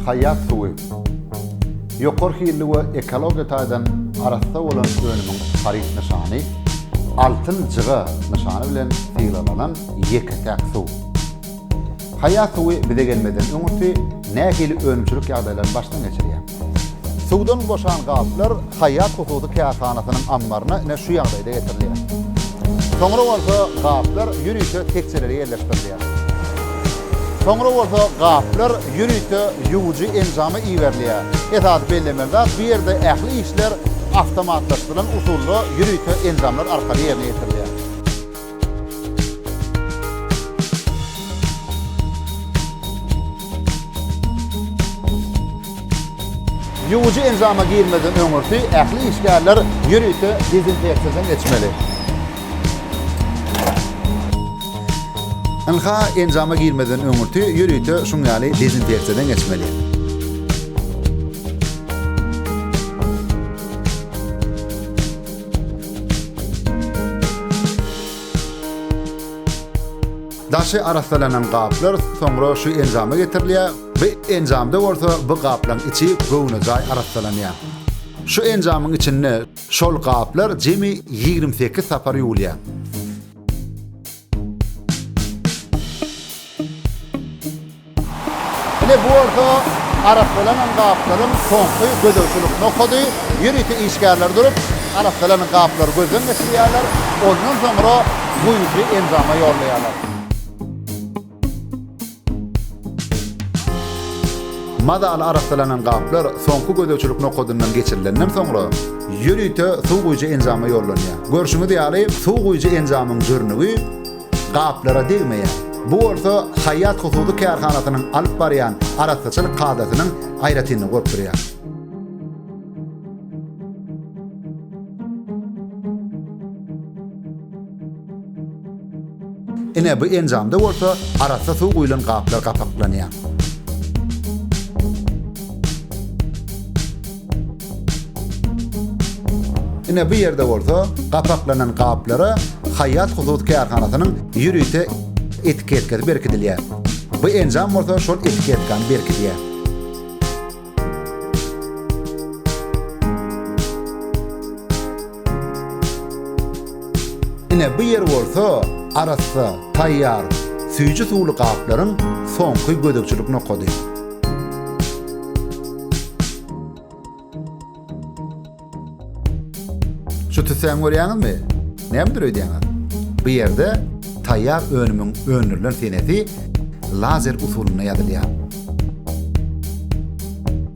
Haýat suwy. Ýokary hilli we ekologiýa taýdan arassa bolan önümiň haryt nyşany Altyn jyga nyşany bilen sylaglanan ýeke-täk suw. Haýat suwy bize gelmezden öňürti nähili önümçilik ýagdaýlaryny başdan geçirýär? Suwdan boşan gaplar Haýat hususy kärhanasynyň ammaryna ine şu ýagdaýda getirilýär. Soňra bolsa gaplar ýörite tekjelere ýerleşdirilýär. Soňra bolsa gaplar ýörite ýuwujy enjama iberilýär. Esasy bellemeli zat, bu ýerde ähli işler awtomatlaşdyrylan usulda ýörite enjamlar arkaly ýerine ýetirilýär. Ýuwujy enjama girmezden öňürti ähli işgärler ýörite dezinfeksiýadan geçmeli. Ynha, enjama girmezden öňürti ýörite şuň ýaly dezinfeksiýadan geçmeli. Daşy arassalanan gaplar soňra şu enjama getirilýär, bu enjamda bolsa bu gaplaryň içi göwnejaý arassalanýar. Şu enjamyň içinde şol gaplar jemi ýigrimi sekiz sapar ýuwulýar. Ine bu bolsa arassalanan gaplaryň soňky gözegçilik nokady. Ýörite işgärler durup, arassalanan gaplary gözden geçirýärler, ondan soňra guýujy enjama ýollaýarlar. Mazaly arassalanan gaplar soňky gözegçilik nokadyndan geçirilenden soňra, ýörite suw guýujy enjama ýollanýar. Görşüňiz ýaly, suw guýujy enjamyň jürnügi, gaplara degmeýär. Bu bolsa Haýýat hususy kärhanasynyň alyp barýan arassaçylyk kadasynyň aýratynlygy bolup durýar. Ine, bu enjamda bolsa arassa suw guýlan gaplar gapaklanýar. Ine bu ýerde bolsa gapaklanan gaplara Haýýat hususy kärhanasynyň ýörite etiketkasy berkidilýär. Bu enjam bolsa şol etiketkany berkidýär. Ine bu ýer bolsa arassa, taýýar, süýji suwly gaplaryň soňky gözegçilik nokady. Şu tüssäni görýäňizmi? Nämedir öýdýäňiz? Bu ýerde taýýar önümiň öndürilen senesi lazer usulynda ýazylýar.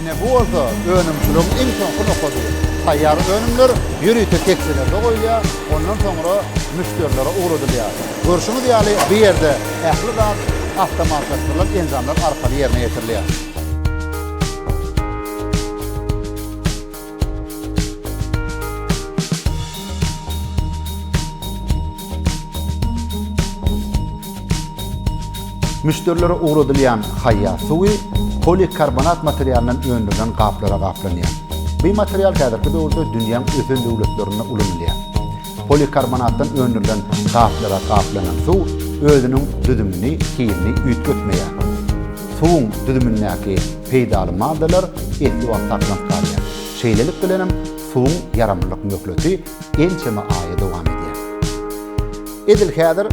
Ine bu bolsa önümçiligiň iň soňky nokady. Taýýar önümler ýörite tekjelerde goýulýar, ondan soňra müşderilere ugradylýar. Görşüňiz ýaly, bu ýerde ähli zat awtomatlaşdyrylan enjamlar arkaly ýerine ýetirilýär. Müşderilere ugradylýan haýýar suwy polikarbonat materialyndan öndürilen gaplara gaplanýar. Bu material häzirki döwürde dünýäň ösen döwletlerinde ulanylýar. Polikarbonatdan öndürilen gaplara gaplanan suw özüniň düzümini hilini üýtgetmeýär. Suwuň düzümindäki peýdaly maddalar esli wagt saklanyp galýar. Şeýlelik bilenem suwuň ýaramlylyk möhleti ençeme aýa dowam edýär. Edil häzir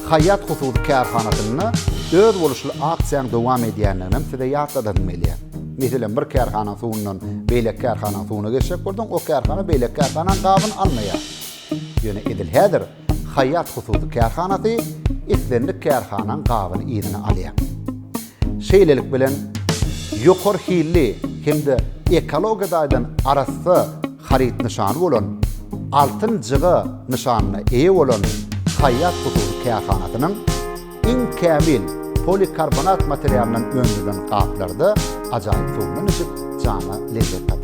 Haýat hususy kärhanasynda özboluşly aksiýanyň dowam edýändiginem size ýatladasym gelýär. Meselem, bir kärhananyň suwundan beýleki kärhananyň suwuna geçjek bolsaň, o kärhana beýleki kärhananyň gabyny almaýar. Ýöne edil häzir Haýat hususy kärhanasy islendik kärhanaň gabyny yzyna alýar. Şeýlelik bilen, ýokary hilli hem-de ekologiýa taýdan arassa haryt nyşany bolan Altyn jyga nyşanyna eýe bolan Haýat hususy kärhanasynyň Iň kämil polikarbonat materialyndan öndürilen gaplarda ajaýyp suwundan içip, jana lezzet tapyň!